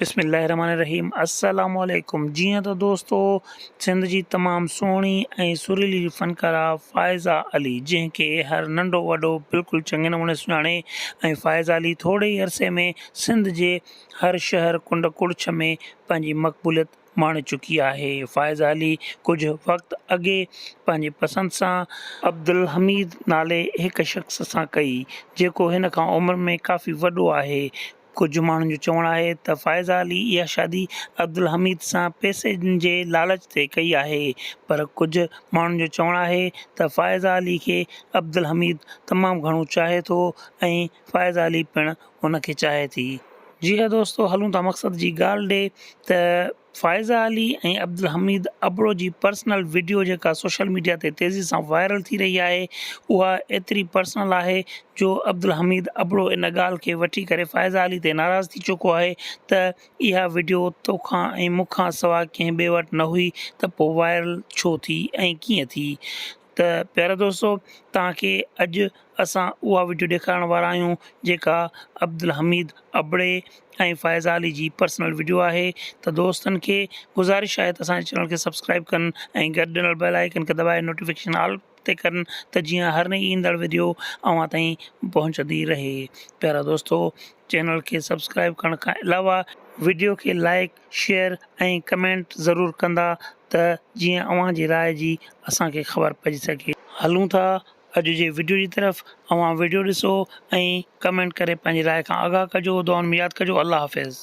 بسم الله الرحمن الرحيم السلام عليڪم جيئن ته دوستو سنڌ جي تمام سهڻي ۽ سريلي فنڪارا فائزا علي جنهن کي هر ننڍو وڏو بلڪل چڱي نموني سڃاڻي ۽ فائزا علي ٿوري ئي عرصي ۾ سنڌ جي هر شهر ڪنڊ ڪڙڇ ۾ پنهنجي مقبوليت ماڻي چڪي آهي فائزا علي ڪجهه وقت اڳي پنهنجي پسند سان عبدالحميد نالي هڪ شخص سان ڪئي جيڪو هن کان عمر ۾ ڪافي وڏو آهي ڪجهه ماڻهن جو چوڻ آهي ته فائزه علي اها شادي عبدالحميد سان پئسي جي لالچ تي ڪئي آهي پر ڪجهه ماڻهن جو چوڻ آهي ته فائزه علي کي عبدالحميد تمام گهڻو چاهي ٿو ۽ فائزه علي پڻ ان کي چاهي ٿي. جي ها دوستو هلون ٿا مقصد جي ڳالهه ڏي ته. فائزه علي ۽ عبدالحميد ابڙو جي پرسنل وڊيو جيڪا سوشل ميڊيا تي تيزي سان وائرل ٿي رهي آهي اها ايتري پرسنل آهي جو عبدالحميد ابڙو ان ڳالهه کي وٺي ڪري فائزه علي تي ناراض ٿي چڪو آهي ته اها وڊيو توکان ۽ مون کان سوا ڪنهن ٻئي وٽ نه هئي ته پوء وائرل ڇو ٿي ۽ ڪيئن ٿي ته پيارا دوستو توهان کي اڄ اسان اها وڊيو ڏيکارڻ وارا آهيون جيڪا عبدالحميد ابڙي ۽ فائزه علي جي پرسنل وڊيو آهي ته دوستن کي گذارش آهي ته اسان جي چينل کي سبسڪرائب ڪن ۽ گڏ ڏنل بيل آئيڪن کي دٻائي نوٽيفڪيشن آل تي ڪن ته جيئن هر نئي ايندڙ وڊيو اوهان تائين پهچندي رهي پيارا دوستو چينل کي سبسڪرائب ڪرڻ کان علاوه وڊيو کي لائڪ شيئر ۽ ڪمينٽ ضرور ڪندا ته جيئن اوهان جي راء جي اسان کي خبر پئجي سگهي. هلون ٿا اڄ جي وڊيو جي طرف اوهان وڊيو ڏسو ۽ ڪمينٽ ڪري پنهنجي راء کان آگاهه ڪجو دعائن ۾ ياد ڪجو الله حافظ.